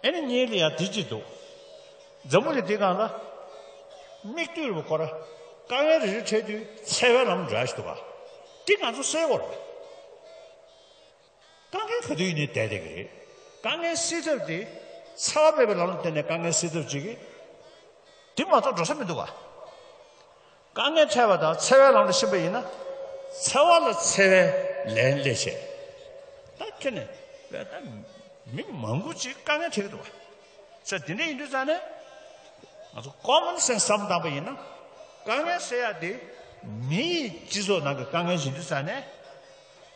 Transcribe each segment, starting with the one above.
ཨེ་ནི་གཉིས་ལ་ཡང་དེ་གཅིག་འདུག། འཛམ་བུ་གླིང་འདི་གང་ལ། སྨིག་རྡུལ་ལ་བསྐོར། དཀའ་ངལ་རེ་རེ་འཕྲད་དུས་འཚེ་བའི་ལམ་འདྲ་ཞིག་འདུག་ག་དེ་ང་ཚོ་སེལ་བར། དཀའ་ངལ་ག་དུས་ཡིན་ནའི་དལ་དལ་གྱི་རེད། དཀའ་ངལ་སེལ་ཐབས་དེ། འཚེ་བ་མེད་པའི་ལམ་ལ་བརྟེན་ནས་དཀའ་ངལ་སེལ་ཐབས་བྱེད་ཀྱི། དེ་མ་གཏོགས་འགྲོ་ས་མི་འདུག་ག། དཀའ་ངལ་འཕྲད་པ་དང་འཚེ་བའི་ལམ་ལ་ཕྱིན་པ་ཡིན་ན། འཚེ་བ་ལ་འཚེ་བའི་ལན་སླེ་བྱེད། ད་ཁྱོད་ནས་བལྟ་ན་མི་མང་པོ་ཅིག་དཀའ་ངལ་འཕྲད་ཀྱི་འདུག་བ། ཚེ་དེ་འདྲ་ཡིན་དུས་ཙང་ནས་ང་ཚོ Common Sense བསམ་བཏང་པ་ཡིན་ན། དཀའ་ངལ་སེལ་ཡག་དེ་མི་ཡིས་སྤྱི་ཚོགས་ནང་གི་དཀའ་ངལ་བཞེས་དུས་ཙང་ནས།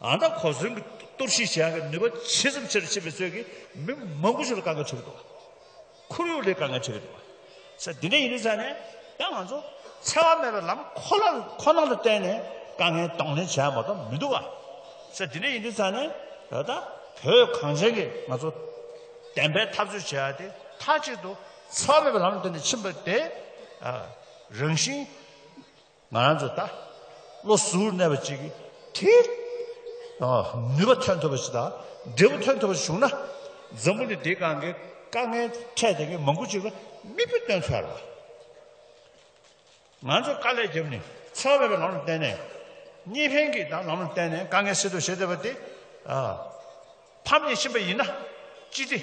ཨང་རྟགས་གོ་སོན་གྱི་གཏོར་བཤིག་བྱེད་ཡག་གི་ནུས་པ་ཇི་ཙམ་ཆེ་རུ་ཕྱིན་པའི་ཚོད་ཀྱིས་མི་མང་པོ་ཞིག་ལ་དཀའ་ངལ་འཕྲད་ཀྱི་འདུག་ཁོར་ཡུག་ལས་དཀའ་ངལ་འཕྲད་ཀྱི་འདུག་ས་འདི་འདྲ་ཡིན་ནུས་ཙམ་ནས་ཡང་ང་ཚོ་འཚེ་བ་མེད་པའི་ལམ་ཁོ་ལ་ཁོ་ན་ལ་བརྟེན་ནས་དཀའ་ངལ་གདོང་ལེན་བྱེད་ཡག་མ་གཏོགས་མི་འདུག་ག་ས་འདི་འདྲ་ཡིན་ནུས་ཙམ་ནས་ད་ལྟ་བོད་གངས་ཅན་གྱི་ང་ཚོ་བདེན་པའི་འཐབ་རྩོད་བྱེད་ཡག་དེ་མཐའ་གཅིག་ཏུ་འཚེ་བ་མེད་པའི་ལམ་ལ་བརྟེན་ནས་ཕྱིན་པ་དེ་རང་བཞིན། ང་རང་ཚོས་ད་བློ་གཟུར་གནས་པ་ཅིག་གིས། ནུས་པ་ཐོན་ཐུབ་པ་ཞིག་དང་འབྲས་བུ་ཐོན་ཐུབ་པ་ཞིག་བྱུང་ན། འཛམ་བུ་ནི་འདིའི་སྒང་གི་དཀའ་ངལ་འཕྲད་ཟིན་མཁན་མང་པོ་ཅིག་ལ་མིག་དཔེ་སྟོན་ཚར་བ། ང་ཚོས་དཀའ་ལས་བརྒྱབ་ནས་འཚེ་བ་མེད་པའི་ལམ་ལ་བརྟེན་ནས། གཉིས་ཕན་གྱི་ལམ་ལ་བརྟེན་ནས་དཀའ་ངལ་སེལ་ཐུབ་བྱེད་ཐུབ་པ་དེ། ཕམ་ཉེས་ཕྱིན་པ་ཡིན་ན་ཅི་སྟེ།